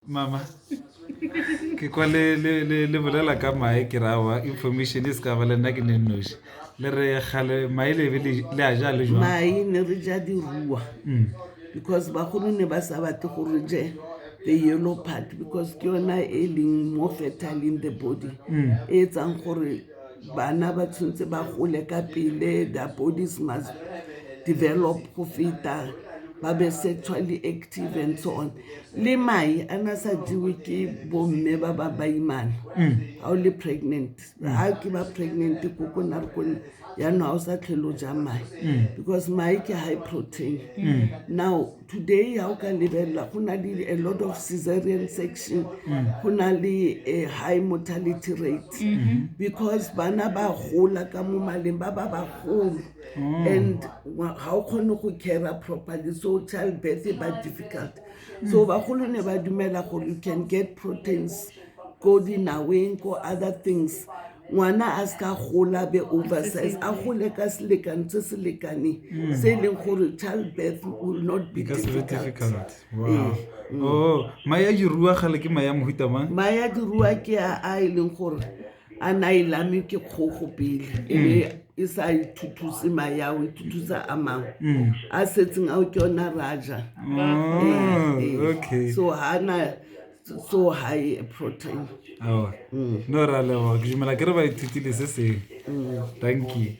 mama ke kwa le le le le bolela ka mae ke ra wa information e se ka ba le nna ke ne nnoši le re gale mae le be le le a ja le jwang mae ne re ja diruwa Mm. because bagolo ne ba sa batle go re je the yellow part because ke yona e leng more fertile in the body Mm. e etsang gore bana ba tshwanetse ba gole ka pele their bodies must develop go feta ba be sexually active and so on le mai a na sa jewe ke bomme ba ba baimana ga mm. o le pregnant ga ke ba pregnant ko ko na re kone yaanong ga o sa tlhelo ja mai mm. because mai ke high protein mm. now today ha o ka lebelela go na le a lot of caesarean section mm. go na le a high mortality rate mm-hmm. because bana ba gola ka mo maleng ba ba bagolo mm. and ga o kgone go cara properly so child birth e ba difficult mm. so bagolo ne ba dumela gore you can get proteins ko dinaweng ko other things ngwana a se ka gola be oversize a gole ka selekane se se lekaneng hmm. se e leng gore child birth will not be difficult eh, hmm. oh, maya dirua gale ke maya mohuta mang maya dirua ke a e leng gore a na e lame ke kgogo pele e hmm. e sa ithutuse maya o ithutuse a mangwe a setseng ao ke yona raja oh, eh, eh. so ga na so high protein no ra leboga ke dumela ke re ba ithutile se seng thank you